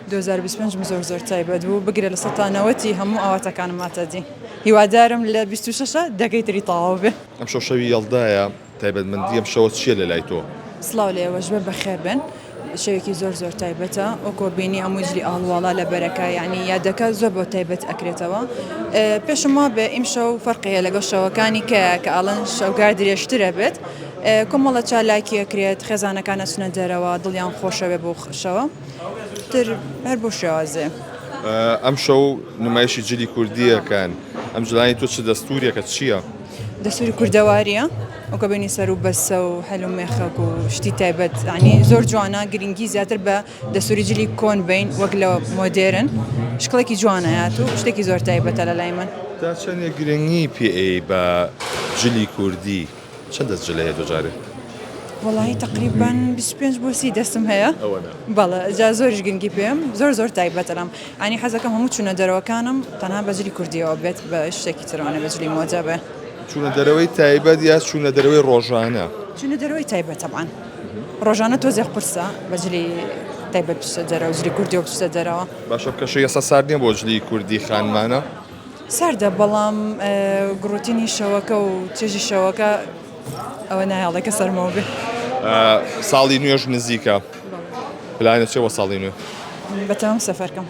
دوو هەزار و بیست و پێنج م زۆر زۆر تایبەت بوو بگرە لە سەتا نەوەتی هەموو ئاواتەکانم هاتە دی هیوادارم لە بیست و شەشە دەکەی تری تەواو بێ. ئەمشەو شەوی یەڵدایە تایبەتمەندی ئەم شەوە چیە لەلای تۆ؟ سڵاو لە ئێوەش بێ بەخێر بێن شەوێکی زۆر زۆر تایبەتە ئەو کۆبینی هەموو جلی ئاڵوواڵا لە بەرەکە یعنی یادەکە زۆر بۆ تایبەت ئەکرێتەوە پێشم وا بێ ئیمشەو فەرقەیە لەگەڵ شەوەکانی کە کە ئاڵن شەوگار درێژترە بێت کۆمەڵە چالاکی ئەکرێت خێزانەکان ئەچنە دەرەوە دڵیان خۆشەوێ بۆ خشەوە. تر هەر بۆ شێوازێ. ئەمشەو نمایشی جلی کوردیەکان ئەم جلانی تۆ چ دەستورێکە چییە؟ دەسوری کوردەواریە ئەوکە بینی سەر و بەسە و هەل و مێخەک و شتی تایبەت ینی زۆر جوانە گرنگی زیاتر بە دەسوری جلی کۆن بین وەک لە مۆدێرن شکڵێکی جوانەیات و شتێکی زۆر تایبەتە لە لای من تا چەندێک گرنگی پێ بە جلی کوردی چەند دەست جلی هەیە دوجارێ؟ وەڵاهی تقریبان 25 بۆ سی دەستم هەیە بەڵە جا زۆریش گرنگی پێم زۆر زۆر تایبەتەرم ئەنی حەزەکەم هەموو چونە دەرەوەکانم تەنها بەجلی کوردیەوە بێت بە شتێکی ترانە بەجلی مۆجا بێ چونە دەرەوەی تایبەت یا چونە دەرەوەی ڕۆژانە چونە دەرەوەی تایبەت تەبان ڕۆژانە تۆزێ قورسە بەجلی تایبەت دەرەوە جلی کوردی بچە دەرەوە باشە کەشە یەسە ساردنیە بۆ جلی کوردی خانمانە ساردە بەڵام گڕوتینی شەوەکە و چێژی شەوەکە ئەوە نایەڵێ کە سەرمەوە بێ. ساڵی نوێش نزیکە پلانە چێ بۆ ساڵی نوێ؟ بەتەمام سەفەرکەم.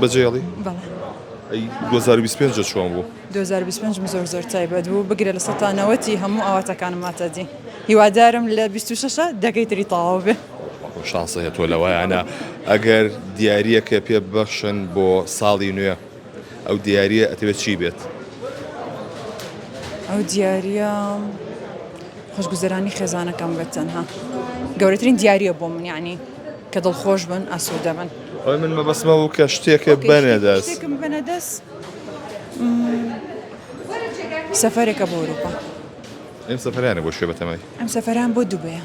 بەجێڵی؟ بەڵێ. 2025 جە چۆن بوو؟ 2025 زۆر زۆر تایبەت بوو بگرە لە سەتانەوەتی هەموو ئاواتەکانم ماتەدی هیوادارم لە 26 دەگەی تری تەواو بێ. بەڵکم شانسی هەیە تۆ لەوایانە ئەگەر دیاریەکە پێ ببەخشن بۆ ساڵی نوێ ئەو دیاریە ئەتەوێت چی بێت؟ ئەو دیاریە خۆشگوزەرانی خێزانەکەم بێت تەنها گەورەترین دیاریە بۆ من یعنی کە دڵخۆش بن ئاسوودە بن ئەوی من مەبەستمە و کە شتێکە بەنێ دەست شتێکم بەنە دەست سەفەرێکە بۆ ئەوروپا ئەم سەفەرانە بۆ شوێ بەتەمای ئەم سەفەران بۆ دوبەیە